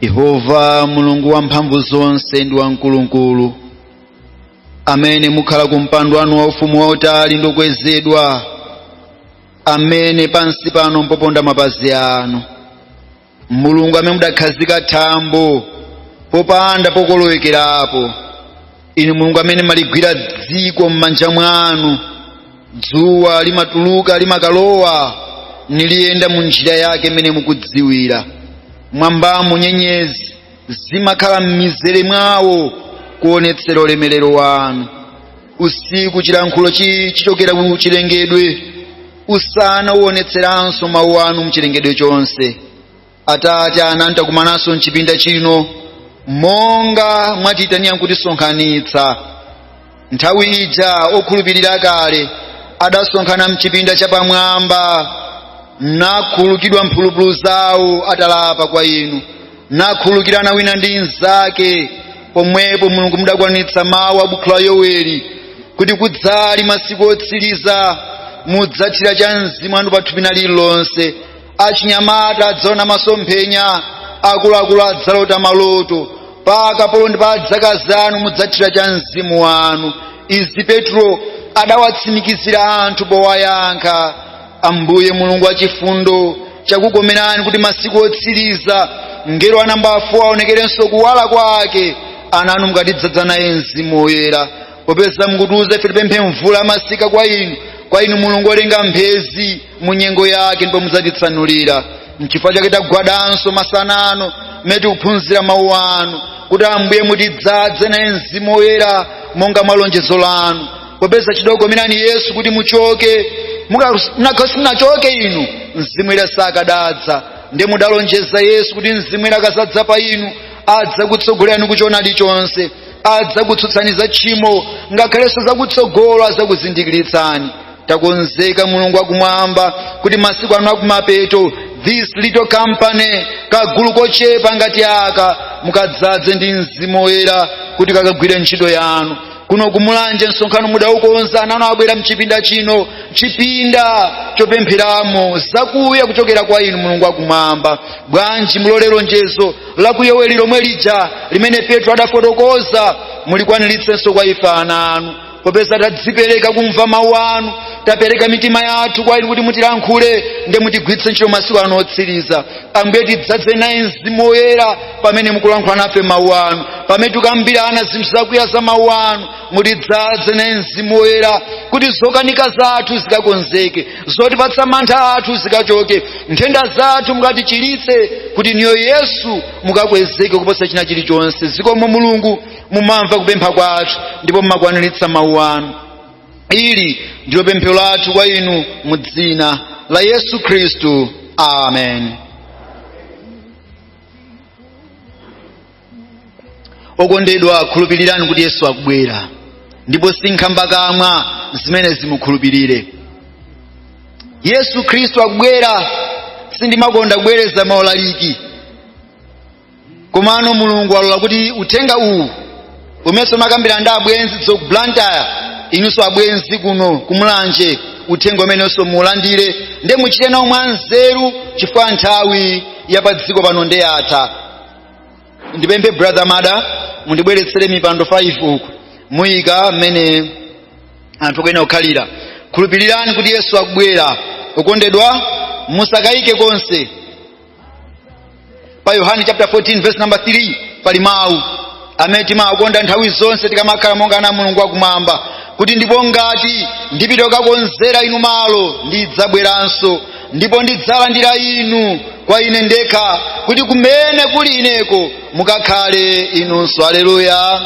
yehova mulungu wamphamvu zonse ndi wamkulukulu amene mukhala ku mpando wanu wa ufumu wautali ndi wokwezedwa amene pansi pano mpoponda mapazi anu mulungu amene mudakhazika thambo popanda pokolowekerapo inu mulungu amene mumaligwira dziko m'manja mwanu dzuwa limatuluka limakalowa ndi liyenda mu njira yake imene mukudziwira m'mwambamo nyenyezi zimakhala m'mizere mwawo kuonetsera ulemerero wanu usiku chilankhulo chi- chichokera ku chilengedwe usana uonetseranso mawu anu mchilengedwe chonse atate ana anu takumananso mchipinda chino monga mwatiyitanira nkutisonkhanitsa nthawi ija okhulupirira kale adasonkhana mchipinda chapamwamba nakhulukidwa mphulupulu zawo atalapa kwa inu nakhulukirana wina ndi mnzake pomwepo mulungu mudakwanitsa mawu a buku la yoweli kuti kudzali masiku otsiriza mudzathira cha mzimu wanu pathupi lina lililonse achinyamata adzaona masomphenya akuluakulu adzalota maloto pa akapolo ndi pa adzakazi anu mudzathira cha mzimu wanu izi petro adawatsimikizira anthu powayankha ambuye mulungu wachifundo chakukomerani kuti masiku otsiriza mngelo wa nambala 4 aonekerenso kuwala kwake ana anu mukatidzadza naye mzimu woyera popeza mukutiuza ife tipemphe mvula ya masika kwa inu kwa inu mulungu olenga mphezi mu nyengo yake ndipo mudzatitsanulira mchifukwa chake tagwadanso masana ano mmene tikuphunzira mawu anu kuti ambuye mutidzadze naye mzimu woyera monga mwa lonjezo lanu popeza chidakukomerani yesu kuti muchoke mukadasachoka inu mzimu woyera sakadadza ndiye mudalonjeza yesu kuti mzimu woyera akadzadza pa inu adzakutsogolerani kuchoonadi chonse adzakutsutsani za tchimo ngakhalenso zakutsogolo adzakuzindikiritsani takonzeka mulungu akumwamba kuti masiku ano akumapeto this little company kagulu kochepa ngati aka mukadzadze ndi mzimu woyera kuti kakagwire ntchito yanu kuno ku mulanje msonkhano mudaukonza ana anu abwera mchipinda chino chipinda chopempheramo zakuya kuchokera kwa inu mulungu akumwamba bwanji mulole lonjezo la ku yoweli lomwe lija limene petro adafotokoza mulikwaniritsenso kwa ife ana anu popeza tadzipereka kumva mawu anu tapereka mitima yathu kwa inu kuti mutilankhule ndi mutigwiritse ntchito masiku ano otsiriza ambuye tidzadze naye mzimu woyera pamene mukulankhula nafe mawu anu pamene tikukambirana zinthu zakuya za mawu anu mutidzadze naye mzimu woyera kuti zokanika zathu zikakonzeke zotipatsa mantha athu zikachoke nthenda zathu mukatichiritse kuti inuyo yesu mukakwezeke kuposa china chilichonse zikomo mulungu mumamva kupempha kwathu ndipo mumakwaniritsa mawu anu ili ndilo pemphero lathu kwa inu mu dzina la yesu khristu amen okondedwa khulupirirani kuti yesu akubwera ndipo sinkhambakamwa zimenezi mukhulupirire yesu khristu akubwera sindimakonda kubwereza maulaliki komano mulungu alola kuti uthenga uwu umenso ndakambira ndi abwenzi anzathu ku blantyre inunso abwenzi kuno kumulanje uthenga umenenso muulandire nde muchite nawo mwanzeru chifukwa nthawi ya pa dziko pano ndeyatha ndipemphe brother mada mundibweretsere mipando 5 uku muyika mmene anathu aja anakhalira khulupirirani kuti yesu akubwera okondedwa musakayike konse pa yohane chapter 14 verse number 3 pali mawu amene timakonda nthawi zonse tikamakhala monga ana a mulungu akumwamba kuti ndipo ngati ndipita kukakonzera inu malo ndidzabweranso ndipo ndidzalandira inu kwa ine ndekha kuti kumene kuli ineko mukakhale inunso aleluya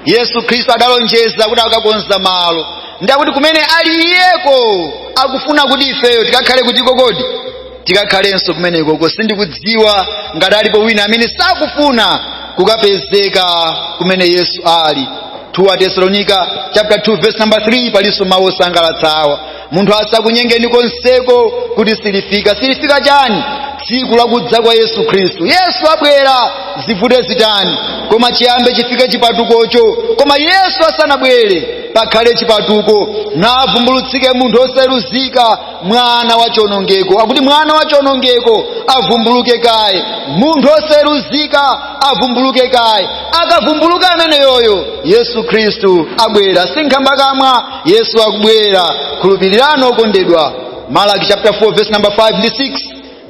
yesu khristu adalonjeza kuti akakonza malo ndakuti kumene ali iyeko akufuna kuti ifeyo tikakhale kuti kodi tikakhalenso kumenekoko sindikudziwa ngati alipo wina amene sakufuna kukapezeka kumene yesu ali 2 atesalonika chapter 2 verse number 3 palinso mawu osangalatsawa munthu asakunyengeni konseko kuti silifika silifika chani tsiku lakudza kwa yesu khristu yesu abwera zivute zitani koma chiyambe chifike chipatukocho koma yesu asanabwere pakhale chipatuko navumbulutsike munthu osayeruzika mwana wa chonongeko akuti mwana wa chonongeko avumbuluke kaye munthu osayeruzika avumbuluke kaye akavumbuluka ameneyoyo yesu khristu abwera sinkhambakamwa yesu akubwera khulupirirani okondedwa malaki chapter 4 verse number 5 ndi 6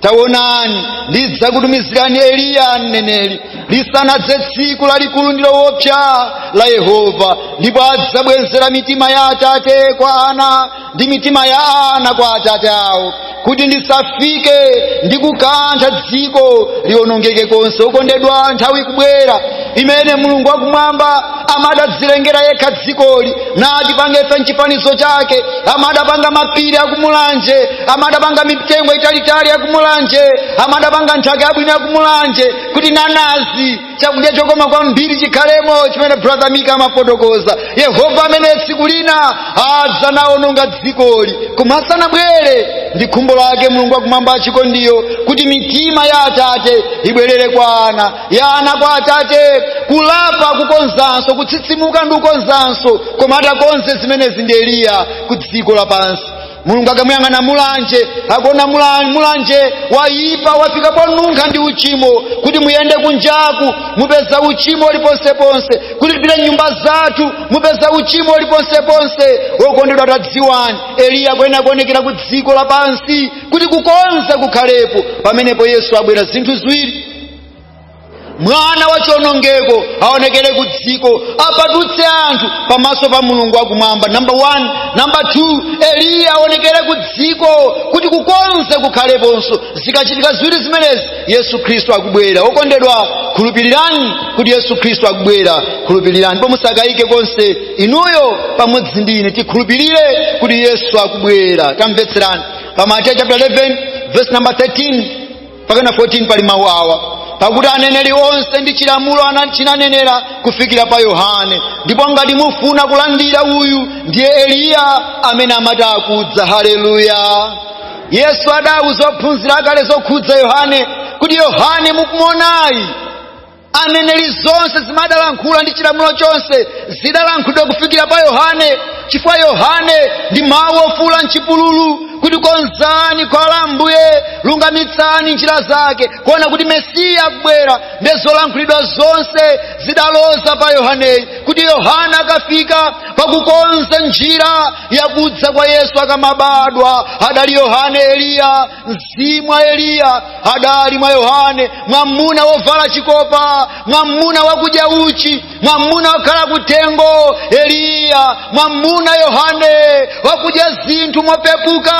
taonani ndidzakutumizirani eliya mneneri lisanadze tsiku lalikulu ndi lowopsa la yehova ndipo adzabwenzera mitima ya atate kwa ana ndi mitima ya ana kwa atate awo kuti ndisafike ndi kukantha dziko liwonongeke konse okondedwa nthawi ikubwera imene mulungu wakumwamba amadadzilengera yekha dzikoli natipanga ife mchifanizo chake amadapanga mapiri akumulanje amadapanga mitengo italitali yakumulanje amadapanga nthaka yabwino yakumulanje kuti nanazi chakudya chokoma kwambiri chikhalemo chimene brother mika amafotokoza yehova amene tsiku lina adzaononga dzikoli koma asanabwere ndi khumbo lake mulungu wakumwamba wachikondiyo kuti mitima ya atate ibwerere kwa ana ya ana kwa atate kulapa kukonzanso kutsitsimuka ndi kukonzanso koma atakonze zimenezi ndi eliya ku dziko lapansi mulungu akamuyang'ana mulanje akuona mula- mulanje wayipa wafika ponunkha ndi uchimo kuti muyende kunjaku mupeza uchimo uli ponseponse kuti tipite mnyumba zathu mupeza uchimo uli ponseponse wokondedwa tadziwani eliya akuyenera kuonekera ku dziko lapansi kuti kukonza kukhalepo pamenepo yesu abwera zinthu ziwiri mwana wa chionongeko aonekere ku dziko apatutse anthu pamaso pa mulungu wakumwamba namba 1 namba 2 eliya aonekere ku dziko kuti kukonza kukhaleponso zikachitika ziwiri zimenezi yesu khristu akubwera okondedwa khulupirirani kuti yesu khristu akubwera khulupirirani ndipo musakayike konse inuyo pamodzi ndi ine tikhulupirire kuti yesu akubwera tamvetserani pa mateyu chapter 11 verse number 13 mpaka na 14 pali mawu awa pakuti aneneri onse ndi chilamulo ana- chinanenera kufikira pa yohane ndipo ngati mufuna kulandira uyu ndiye eliya amene amati akudza haleluya yesu adauza ophunzira ake zokhudza yohane kuti yohane mukumuonayu aneneri zonse zimene adalankhula ndi chilamulo chonse zidalankhulidwa kufikira pa yohane chifukwa yohane ndi mawu ofuula mchipululu kuti konzani khwalala la ambuye lungamitsani njira zake kuona kuti mesiya akubwera nde zolankhulidwa zonse zidaloza pa yohaneyu kuti yohane akafika pakukonza njira yakudza kwa yesu akamabadwa adali yohane eliya mzimu wa eliya adali mwa yohane mwamuna wovala chikopa mwamuna wakudya uchi mwamuna wokhala kutengo eliya mwamuna yohane wakudya zinthu mopepuka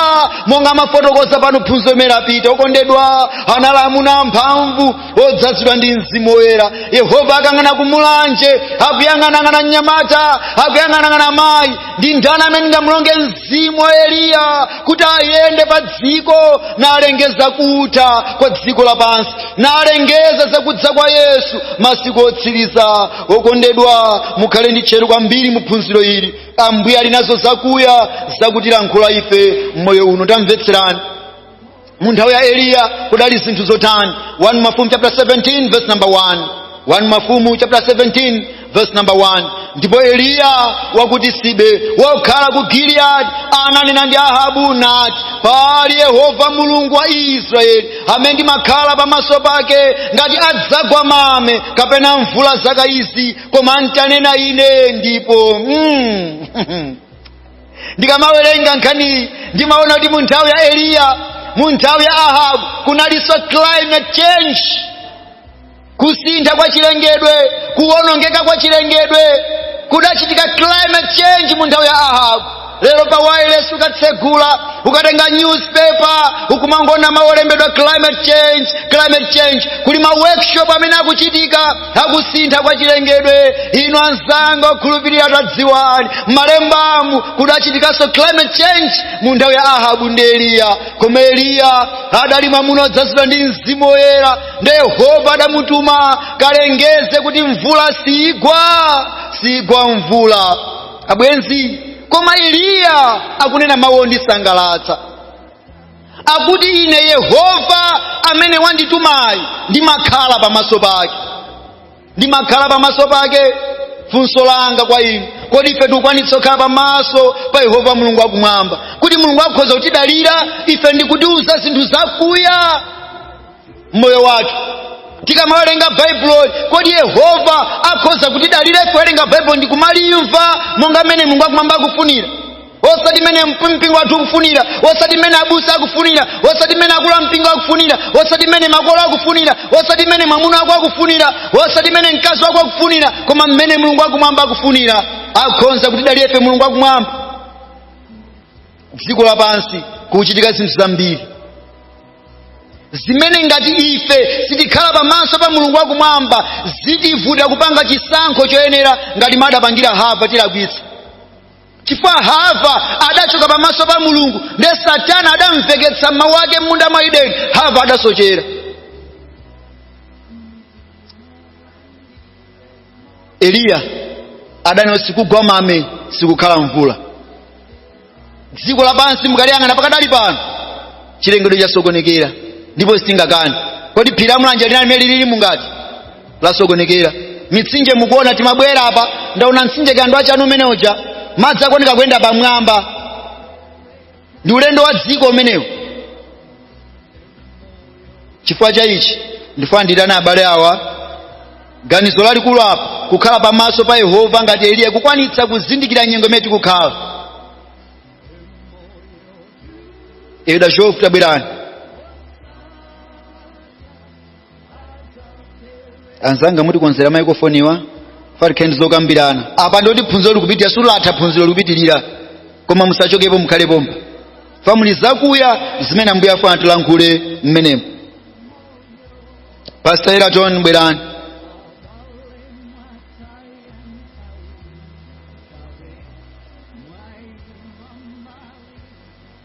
monga amafotokoza pano phunziro limene lapita okondedwa anali mwamuna wamphamvu odzazidwa ndi mzimu woyera yehova akayang'ana kumulanje akuyang'anang'ana mnyamata akuyang'anang'ana mayi ndi ndani amene ndingamulonge mzimu wa eliya kuti ayende pa dziko nalengeza kutha kwa dziko lapansi nalengeza zakudza kwa yesu masiku otsiriza okondedwa mukhale ndi tcheru kwambiri mu phunziro ili ambuye ali nazo zakuya zakutilankhula ife mmoyo uno tamvetserani mu nthawi ya eliya kudali zinthu zotani 1 mafumu chapter 17 verse number 1 1 mafumu chapter 17 verse number 1 ndipo eliya wa ku tisibe wokhala ku giliyadi ananena ndi ahabu nati pali yehova mulungu wa israeli amene ndimakhala pamaso pake ngati adzagwa mame kapena mvula zaka izi koma ntanena ine ndipo mm. ndikamawerenga nkhaniyi ndimaona kuti mu nthawi ya eliya mu nthawi ya ahabu kunalinso climate change kusintha kwa chilengedwe kuwonongeka kwa chilengedwe kudachitika climate change mu nthawi ya ahabu lero pa wireless ukatsegula ukatenga newspaper ukumangoona mau olembedwa climate change climate change kuli ma workshop amene akuchitika akusintha kwa chilengedwe inu anzanga okhulupirira tadziwani m'malembamu kudachitikanso climate change mu nthawi ya ahabu ndi eliya koma eliya adali mwamuna odzazidwa ndi mzimu woyera ndi yehova adamutuma kalengeze kuti mvula siigwa siigwa mvula abwenzi koma eliya akunena mawu ondisangalatsa akuti ine yehova amene wanditumayi ndimakhala pamaso pake ndimakhala pamaso pake funso langa kwa inu kodi ife tikukwanitsa kukhala pamaso pa yehova mulungu wakumwamba kuti mulungu akhoza kutidalira ife ndikutiuza zinthu zakuya mmoyo wathu tikamawerenga baibulo kodi yehova akhoza kutidalira ife kuwerenga baibulo ndi kumalimva monga mmene mulungu akumwamba akufunira osati mmene mp- mpingo wathu ukufunira osati mmene abusa akufunira osati mmene akulu a mpingo akufunira osati mmene makolo akufunira osati mmene mwamuna wako akufunira osati mmene mkazi wako akufunira koma mmene mulungu akumwamba akufunira akhonza kutidalira ife mulungu akumwamba dziko lapansi kukuchitika zinthu zambiri zimene ngati ife sitikhala pamaso pa mulungu wakumwamba zitivuta kupanga chisankho choyenera ngati m'mene adapangira hava tilakwitsa chifukwa hava adachoka pamaso pa mulungu nde satana adamumveketsa mawu ake m'munda mwa ideni hava adasochera eliya adanena kuti sikugwa mame sikukhala mvula dziko lapansi mukaliyang'ana pakadali pano chilengedwe chasokonekera ndipo sitingakani kodi phiri la mulanje linali mmene lililimu ngati lasokonekera mitsinje mukuona timabwera apa ndaona mtsinje kandeu wa chanu umene uja madzi akuoneka kuyenda pamwamba ndi ulendo wa dziko umenewu chifukwa cha ichi ndifuna ndiitane abale awa ganizo lalikulu apa kukhala pamaso pa yehova ngati eliya kukwanitsa kuzindikira nyengo imene tikukhala iyi dachofu tabwerani anzanga mutikonzere maikofoniwa tifuna tikhale ndi zokambirana apa nde kuti phunziro likupitira silinathe phunziro likupitirira koma musachokepo mukhale pompa chifukwa muli zakuya zimene ambuye afuna tilankhule mmenemo pastor eraton bwerani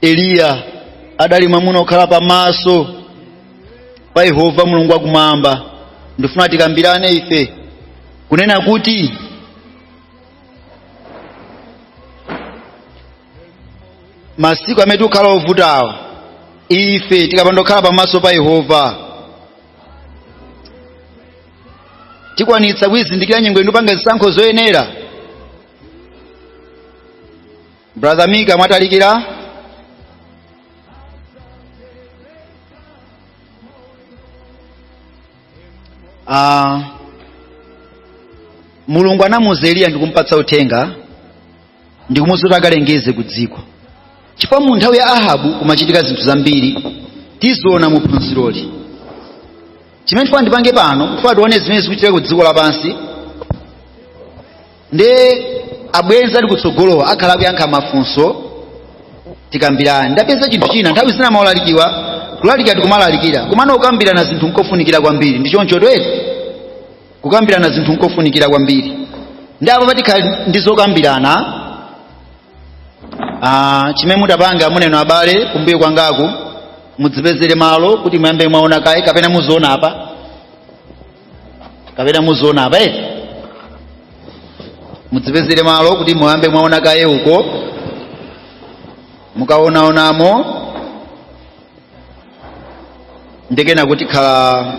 eliya adali mwamuna okhala pamaso pa yehova mulungu wakumwamba ndifuna tikambirane ife kunena kuti masiku amene tikukhala ovutawa ife tikapanda kukhala pamaso pa yehova tikwanitsa kuyizindikira nyengo ino ndi kupanga zisankho zoyenera brother mika mwatalikira uh, mulungu anamuuza eliya ndikumpatsa uthenga ndikumuuza kuti akalengeze ku dziko chifukwa mu nthawi ya ahabu kumachitika zinthu zambiri tiziona mu phunziroli chimene ndifuna ndipange pano ndifuna tione zimene zikuchitika ku dziko lapansi nde abwenzi ali kutsogolowa akhala akuyankha mafunso tikambirana ndapeza chinthu china nthawi zina maulalikiwa kulalikira tikumalalikira komano kukambirana zinthu nkofunikira kwambiri ndi choncho eti kukambirana zinthu nkofunikira kwambiri nde apapa tikhala ndi zokambirana Ah, chimene mutapange inuyo abale kumbuyo kwangaku mudzipezere malo kuti muyambe mwaona kaye kapena muziona apa kapena muziona apa eti mudzipezere malo kuti muyambe mwaona kaye uko mukaonaonamo ndikunena kuti tikhala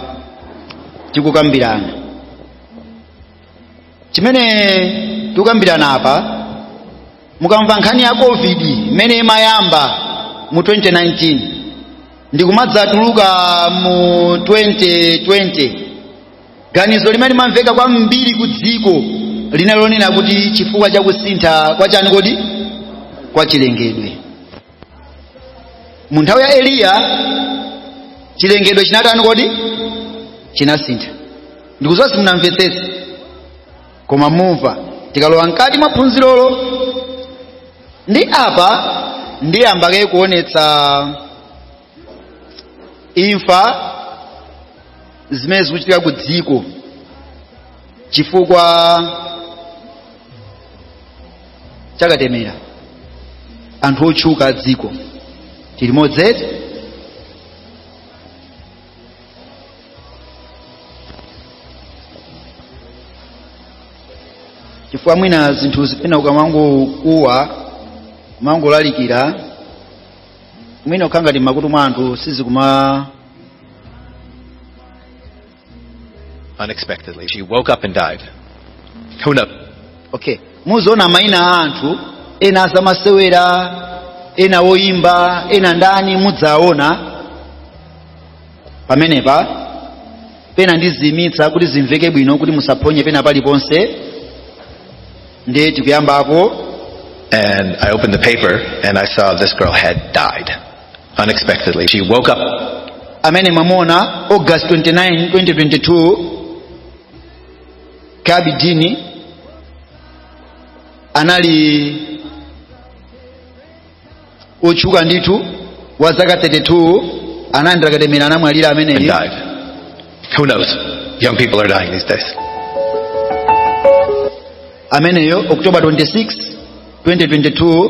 tikukambirana chimene tikukambirana apa mukamva nkhani ya covid imene imayamba mu 2019 ndikumadzatuluka mu 2020 ganizo limene limamveka kwambiri ku dziko linali lonena kuti chifukwa cha kusintha kwa chani kodi kwa chilengedwe mu nthawi ya eliya chilengedwe chinatani kodi chinasintha ndikuziwa simunamvetsetse koma mumva tikalowa mkati mwa phunzirolo ndi apa ndiyamba kaye kuonetsa imfa zimene zikuchitika ku dziko chifukwa cha katemera anthu otchuka a dziko tili limodzi eti chifukwa mwina zinthuzi pena ukamangokuwa kumangolalikira mwina kukhala ngati m'makutu mwa anthu sizikuma unexpectedly. She woke up and died. Who knows? okay muziona maina a anthu ena azamasewera ena oyimba ena ndani mudzaona pamenepa pena ndiziimitsa kuti zimveke bwino kuti musaphonye pena paliponse ndiye tikuyambapo And I opened the paper and I saw this girl had died unexpectedly. She woke up amene mwamuona august 29 2022 charlbi dean anali otchuka ndithu wa zaka 32 analandira katemera anamwalira and ameneyi died. Who knows? Young people are dying these days. ameneyo october 26 2022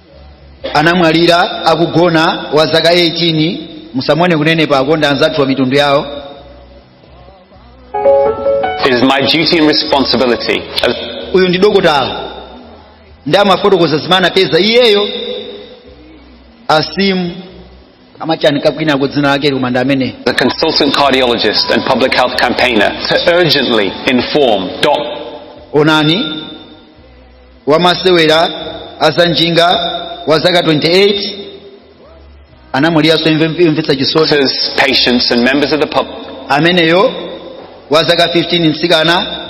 anamwalira akugona wa zaka 18 musamone kunenepako ndi anzathuwa mitundu yawo It is my duty and responsibility as uyu ndi dokotala ndi amafotokoza zimene anapeza iyeyo aseem amachanika kwinako dzina lake koma ndi ameneyi a consultant cardiologist and public health campaigner to urgently inform doctors. onani wamasewera azanjinga wa zaka 28 anamwaliranso imve- yomvetsa chisoni Doctors, patients, and members of the public. ameneyo wa zaka 15 mtsikana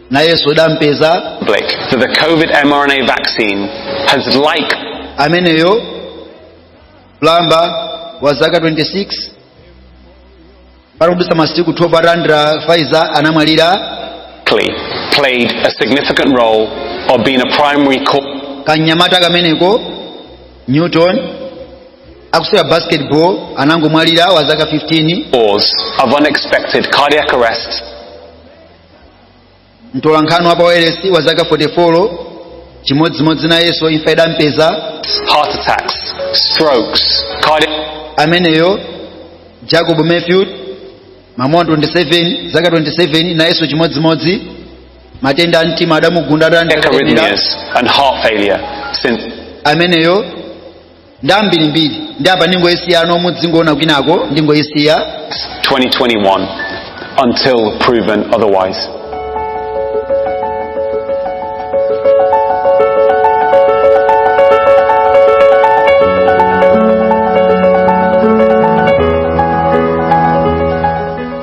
nayenso adampeza That the COVID mRNA vaccine has like ameneyo plumber wa zaka 26 patadutsa masiku 12 atalandira pfizer anamwalira Likely played a significant role of being a primary cause kanyamata kameneko newton akusewera basketball anangomwalira wa zaka 15 of unexpected cardiac arrest mtolankhani wa pawailesi wa zaka 44 chimodzimodzi nayenso imfa idampeza ameneyo jacob matthew mamuna 27 zaka 27 nayenso chimodzimodzi matenda a mtima adamugunda adandakalira ameneyo ndi ambirimbiri ndi apa ndingoyisiya pano muzingoona kwinako ndingoyisiya 2021 until proven otherwise.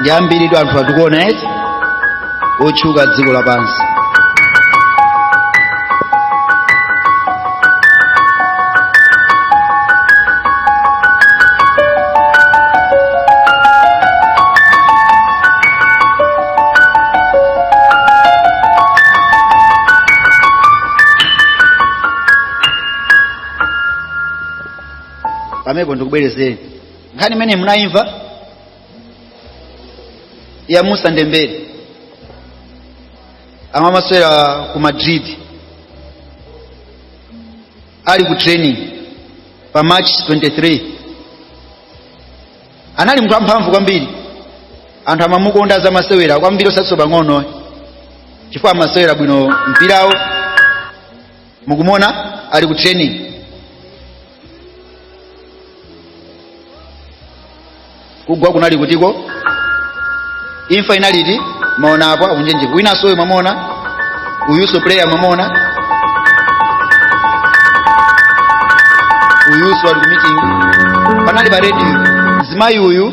ndi ambiritu anthu amene tikuona eti otchuka dziko lapansi pamenepo ndikubwerezeni nkhani imene munayimva ya Moussa Dembele amamasewera ku madrid ali ku training pa march 23 anali munthu amphamvu kwambiri anthu amamukonda azamasewera kwambiri osatinso pang'ono ayi chifukwa amasewera bwino mpirawo mukumuona ali ku training kugwa kunali kutiko imfa inaliti mwaona apo akunjenjeka winanso uyu mwamuona uyunso player mwamuona uyunso ali ku meeting panali pa radio mzimayi uyu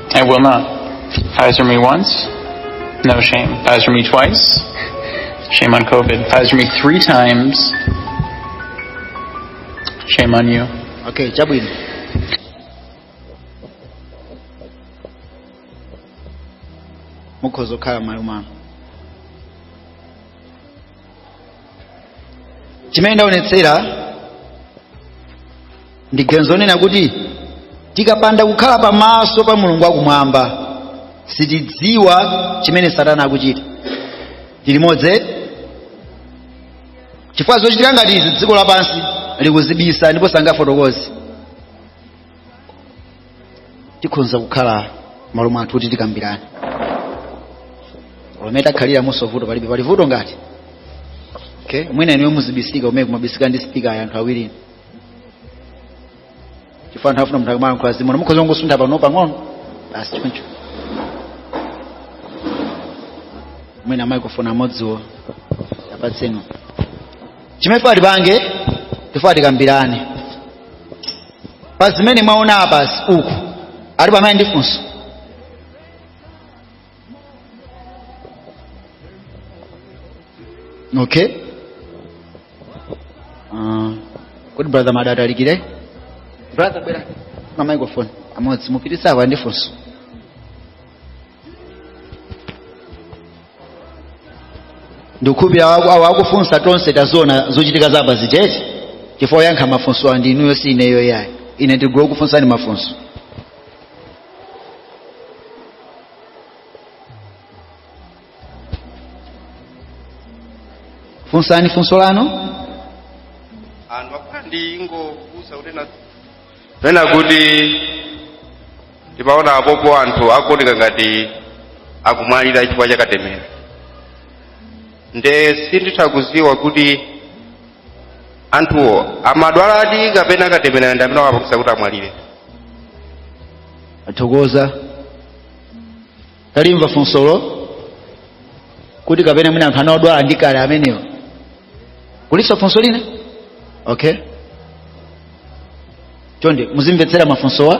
I will not. Pfizer me once, no shame. Pfizer me twice, shame on COVID. Pfizer me three times, shame on you. okay chabwino mukhoza kukhala malumano chimene ndaonetsera ndi ganizo lonena kuti tikapanda kukhala pamaso pa mulungu wakumwamba sitidziwa chimene satana akuchita tilimodzi chifukwa zochitika ngati izi dziko lapansi likuzibisa ndipo sangafotokoze tikhonza kukhala m'malo mwathu kuti tikambirane pamene takhaliramunso vuto palibe pali vuto ngati okay mwina inuyo muzibisika mmene kumabisika ndi spika ya anthu awiri chifukwa anthu afuna munthu akamalankhula zimuna mukhoza kungosuntha pano pang'ono basi choncho mwina microphone amodziwo apatseni chimene ati apange tifuna tikambirane pa zimene mwaona apazi kuti alipo amene ndi funso okay uh, kuti brother Madata Alikire brother bwera na microphone amodzi mupititsa kwa yemwe ali ndi funso ndikukhulupirira awawo akufunsa tonse taziona zochitika za apazi eti chifukwa oyankha mafunso ndi inuyo si ineyo yayi ine ndikula kufunsani mafunso funsani funso lanu anthu akhala ndi ingokusa kuti na pena kuti ndimaona apopo anthu akuoneka ngati akumwalira chifukwa cha katemera nde sinditha kuziwa kuti anthuwo amadwaladi kapena akatemera ndi amene awapangisa kuti amwalire tathokoza talimva funsolo kuti kapena mwina anthu anaodwala ndi kale amenewo kulinso funso lina okay chonde muzimvetsera mafunsowa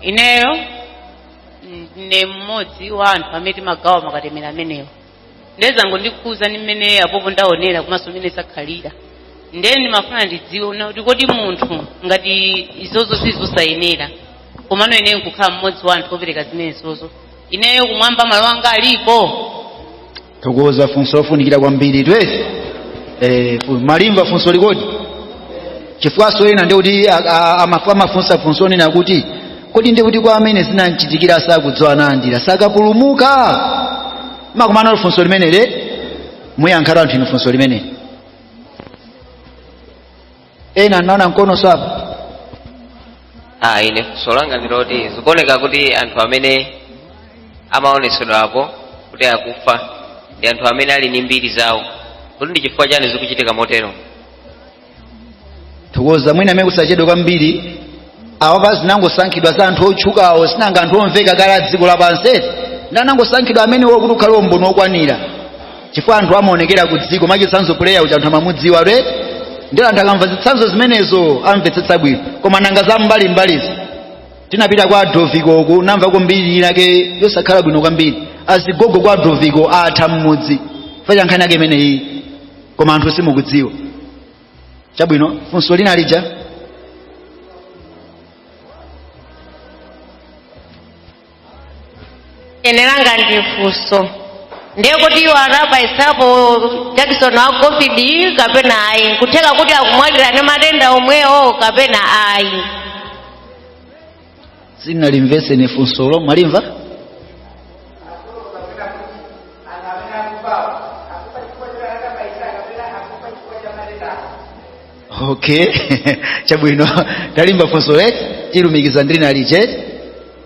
ineyo mm, ndi mmodzi wa anthu amene timagawa makatemera amenewo ndiye zangondikhudzani mmene apopo ndaonera komanso mmene zakhalira ndiye ndimafuna ndidziwe kunena kuti kodi munthu ngati izozo zili zosayenera komano ineyo nkukhala mmodzi wa anthu opereka zimenezozo ineyo kumwamba malo anga alipo thokoza funso lofunikira kwambiri twezi eh, fu- mwalimva funsoli kodi chifukwanso ena ndikuti amafunsa funso lonena kuti kodi ndi kuti kwa amene zinamchitikira sakudziwa nalandira sakapulumuka makumana olo funso limeneli muyankhatu anthu inu funso limeneli ena anaona mkono uko apo ah ine funso langa ndi loti zikuoneka kuti anthu amene amaonetsedwa apo kuti akufa ndi anthu amene ali ndi mbiri zawo kuti ndi chifukwa chani zikuchitika motero thokoza mwina kumene kusachedwe kwambiri awapa zinangosankhidwa za anthu otchukawo sinanga anthu omveka kale a dziko lapansi eti ndi anangosankhidwa amenewo kuti ukhale umboni wokwanira chifukwa anthu amaonekera ku dziko mwachitsanzo puleya uja anthu amamudziwa ndiye anthu akamva zitsanzo zimenezo amvetsetsa bwino koma nanga za mbalimbalizo tinapita kwa Adoviko uku ndamva mbiri inake yosakhala bwino kwambiri azigogo kwa Adoviko atha mmudzi chifukwa cha nkhani yake imeneyi koma anthu simukudziwa chabwino funso lina lija ine langa ndi funso ndiye kuti iwo anabayitsapo jakisoni wa covid kapena ayi nkutheka kuti akumwalira ndi matenda omwewo kapena ayi sindinalimvetse funsolo mwalimva okay chabwino talimva funso loti tilumikiza ndi linali chete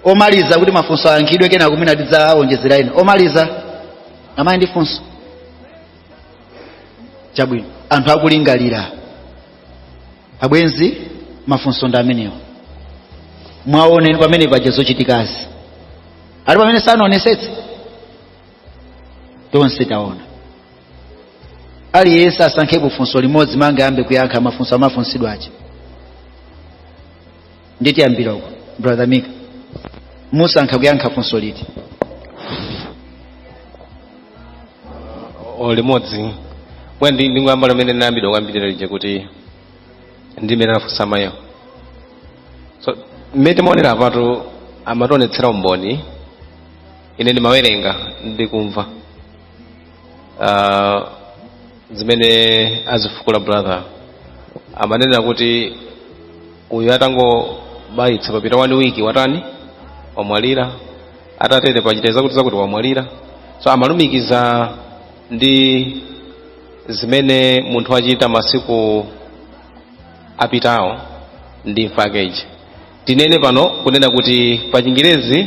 omaliza kuti mafunso ayankhidwe kenako mwina tidzaonjezera ena omaliza amayi ndi funso chabwino anthu akulingalira abwenzi mafunso ndi amenewo mwaona pamene paja zochitikazi ali pamene tionetsetse tonse taona aliyense asankhepo funso limodzi muyambe kuyankha mafunso afunsidwa aja nde tiyambira uko brother mika musankha kuyankha funso liti o limodzi mwa ndi- ndingoyamba limene ndinayambidwa kwambirira lija kuti ndimene anafunsa mayiwo so mmene timaonera patu amationetsera umboni ine ndimawerenga ndikumva uh, zimene azifukula brother amanena kuti uyu atangobayitsa papita one week watani wamwalira atatere pachita zakuti zakuti wamwalira so amalumikiza ndi zimene munthu wachita masiku apitawo ndi imfa yakeyi tinene pano kunena kuti pa chingerezi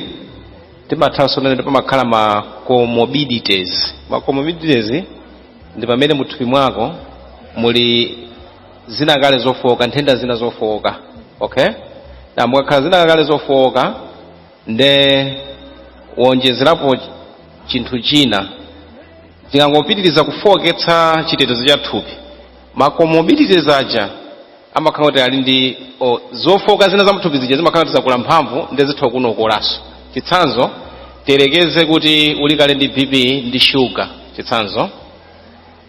timathanso kunena kuti pamakhala ma comorbidities ma comorbidities ndi pamene muthupi mwako muli zina kale zofowoka nthenda zina zofowoka okay nde mukakhala zina kale zofowoka nde wonjezerapo ch- chinthu china chikangopitiriza kufowoketsa chitetezo cha thupi ma comorbidities aja amakhala kuti ali ndi o, zofooka zina za mthupi zija zimakhala kuti zakula mphamvu ndi zitha kukokolanso chitsanzo tiyerekeze kuti uli kale ndi bp ndi shuga chitsanzo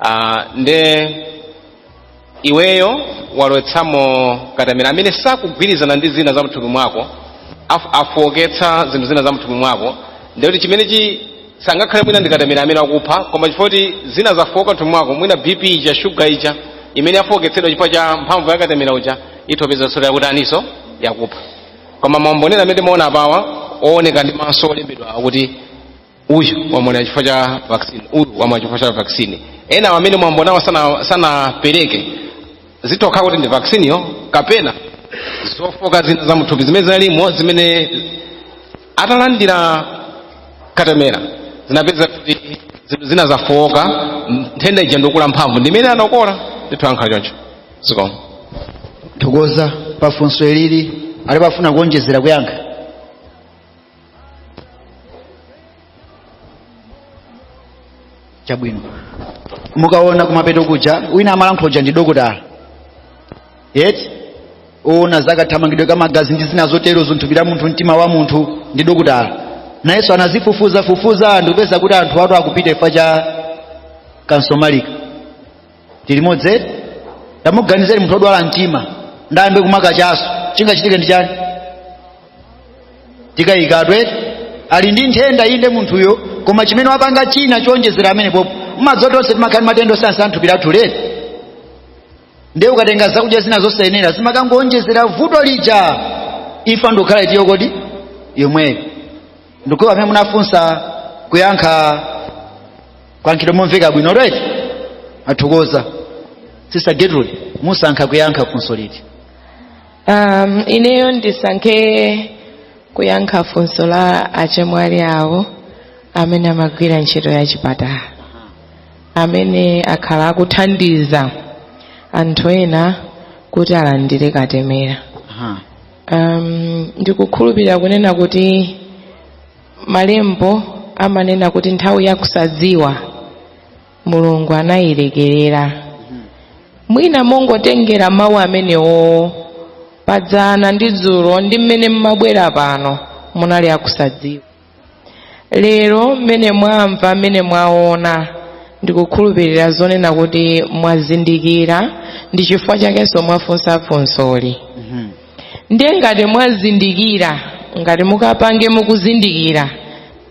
ah, nde iweyo walowetsamo katemera amene sakugwirizana ndi zina za mthupi mwako af- afooketsa zinthu zina za mthupi mwako ndikuti chimene chi sangakhale mwina ndikatemera amene wakupha koma chifukwa choti zina zafoka mthupi mwako mwina bp ija shuga ija imene yafoketsedwa chifukwa cha mphamvu ya katemera uja itha kupeza zoona yakuti iyonso yakupha koma maumboniwa amene timaona apawa ooneka ndi maso olembedwa akuti uyu wamwalira chifukwa cha vaccine uyu wamwalira chifukwa cha vaccine ena amene mwambonawo sana- sanapereke zithudi kuti ndi vaccine yo kapena zofoka zina za mthupi zimene zinalimo zimene atalandira katemera zinapereza kuti zinthu zina zafowoka nthenda ija ndikukula mphamvu ndimene anapola ndithu angakhale choncho zikomo tathokoza pa funso ilili alipo ofuna kuonjezera kuyankha chabwino mukaona kumapeto kuja wina amalankhula uja ndi dokotala eti owona zakathamangidwe ka magazi ndi zina zotero zamthupi la munthu mtima wa munthu ndi dokotala nayenso anazifufuza fufuza ndikupeza kuti anthu atha akupita chifukwa cha kansomalika tilimodzi tamuganizeni munthu odwala mtima nde ayambe kumwa kachaso chingachitike ndi chani tikayika eti ali ndi nthenda inde munthuyo koma chimene wapanga china choonjezera pamenepopo mmadziwa tonse timakhala ndi matenda osiyana-siyana thupi lathuli eti ndiye ukatenga zakudya zina zosayenera zimakangowonjezera vuto lija imfa ndikukhala itiyo kodi yomweyo ndikukhulupira amene munafunsa mwayankha mwayankhidwa momveka bwino eti tathokoza sister gertrude musankha kuyankha funso liti um, ineyo ndisankhe kuyankha funso la achemwali awo amene amagwira ntchito ya chipatala amene akhala akuthandiza anthu ena kuti alandire katemera Aha. um, ndikukhulupirira kunena kuti malembo amanena kuti nthawi yakusadziwa mulungu anayilekerera mwina mongotengera mawu amenewo padzana ndi dzulo ndi mmene mmabwera pano munali akusadziwa lero mmene mwamva mmene mwaona ndikukhulupirira zonena kuti mwazindikira ndi chifukwa chakenso mwafunsa funsoli ndiye ngati mwazindikira ngati mukapange mukuzindikira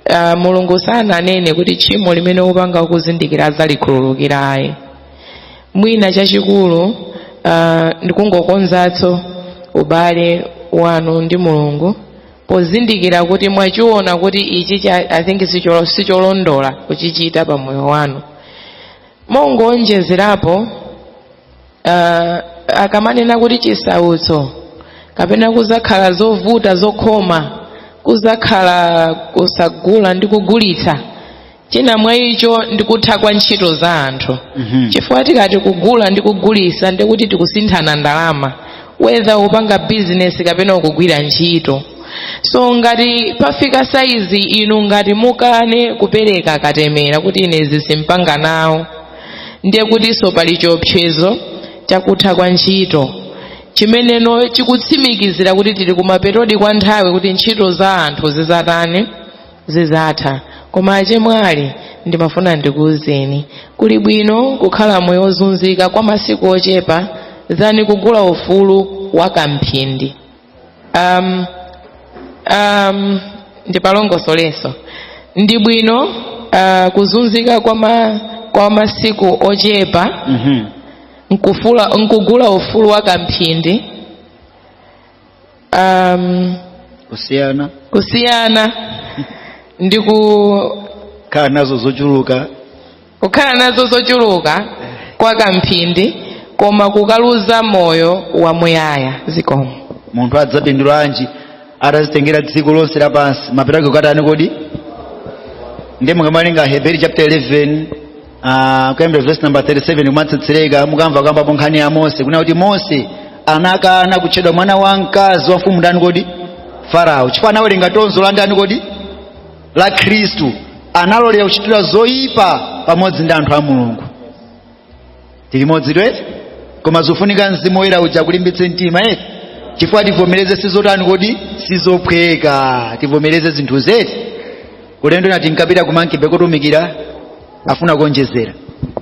uh, mulungu sananene kuti tchimo limene upanga ukuzindikira adzalikhululukira ayi mwina chachikulu uh, ndikungokonzatso ubale wanu ndi mulungu pozindikira kuti mwachiona kuti ichi cha- i think sicholo- sicholondola kuchichita pa moyo wanu mongoonjezerapo uh, akamanena kuti chisautso kapena kuzakhala zovuta zokhoma kuzakhala kusagula ndi kugulitsa china mwa icho ndi kutha kwa ntchito za anthu Mhm. chifukwa tikati kugula ndi kugulisa ndi kuti tikusinthana ndalama whether upanga bizinesi kapena ukugwira ntchito so ngati pafika saizi inu ngati mukane kupereka katemera kuti ine izi simpanga nawo ndiye kutinso pali chiopsezo chakutha kwa ntchito chimene chikutsimikizira kuti tili kumapetodi kwa nthawi kuti ntchito za anthu zizatani zizatha koma achemwali ndimafuna ndikuuzeni kuli bwino kukhala moyo ozunzika kwa masiku ochepa than kugula ufulu wa kamphindi um, um, ndipalongosolenso ndi bwino uh, kuzunzika kwa, ma, kwa masiku ochepa Mhm. nkufula nkugula ufulu wa kamphindi um, kusiyana kusiyana ndi kukhala nazo zochuluka kukhala nazo zochuluka kwa kamphindi koma kukaluza moyo wamuyaya zikomo munthu adzapindulanji atazitengera dziko lonse lapansi mapeto ake kukatani kodi ndiye mukamawerenga heberi chapter 11 Ah, kuyambira verse number 37 kumatsetsereka mukamva akukambapo nkhani ya mose kunena kuti mose anakana kutchedwa mwana wa mkazi wa mfumu ndani kodi farao chifukwa anawerenga tonzo la ndani kodi la khristu analolera kuchitira zoyipa pamodzi ndi anthu a mulungu tili limodzi eti koma zofunika mzimu woyera uja akulimbitse mtima eti chifukwa tivomereze sizotani kodi sizophweka tivomereze zinthu zeti ulendo nati nkapita kumankibe kotumikira afuna kuonjezera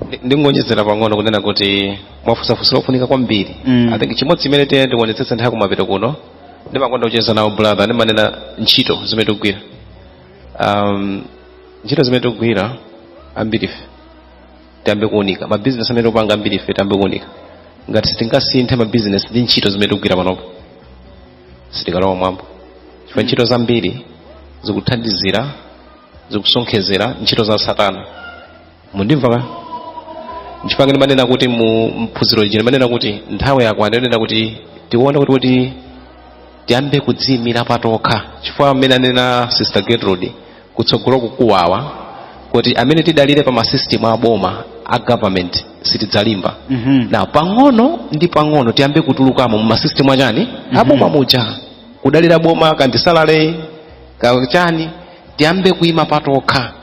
Ndi- ndingonjezera pang'ono kunena kuti mwafunsa funso lofunika kwambiri Mm. i think chimodzi chimene tiyenera kuonetsetsa nthawi kumapeto kuno ndimakonda kucheza nawo brother ndimanena ntchito zimene tikugwira um, ntchito zimene tikugwira ambirife tiyambe kuunika mabizinesi amene tikupanga ambiri ife tiyambe kuunika ngati sitingasinthe mabizinesi ndi ntchito zimene tikugwira panopo sitikalowa m'mwamba chifukwa ntchito zambiri zikuthandizira zikusonkhezera ntchito za satana mundimva ka nchifukwa ngati manena kuti mu phunziro lino manena kuti nthawi yakwana kunena kuti tione kuti kuti tiyambe kudziimira patokha chifukwa amene anena sister gertrude kutsogolo kukubweraku kuti amene tidalire pa masystem a boma a government sitidzalimba Mhm. nde pang'ono ndi pang'ono tiyambe kutulukamo mu masystem achani aboma muja kudalira boma kandisalale kachani tiyambe kuima patokha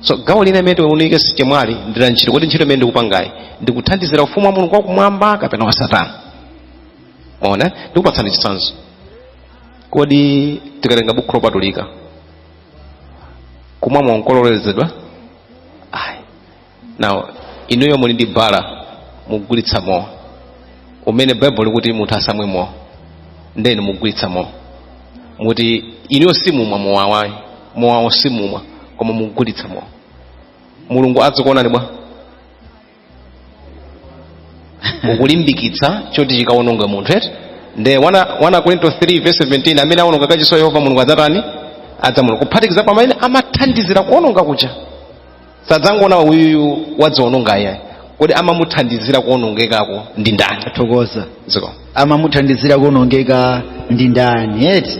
so gawo lina limene tiunike system yathu ndi la ntchito kodi ntchito imene ndikupangayi ndikuthandizira ufumu wa mulungu wakumwamba kapena wa satana mwaona ndikupatsani chitsanzo kodi tikatenga bukhu lopatulika kumwa mowa nkololezedwa ayi now inuyo muli ndi bar mukugulitsa mowa umene baibulo likuti munthu asamwe mowa ndiye inu mukugulitsa mowa muti inuyo simumwa mowa ayi mowawo simumwa koma mukugulitsa mowa mulungu azikuonani bwanji ukulimbikitsa choti chikawononge munthu eti nde 1 akorinto 3 verse 17 amene awononga kachisi wa yehova mulungu adzatani adzamuwononga kuphatikiza pa amene amathandizira kuwononga kuja sadzangoona uyuyu wadziwononga ayayi kodi amamuthandizira kuwonongekako ndi ndani kapena adziko amamuthandizira kuonongeka ndi ndani eti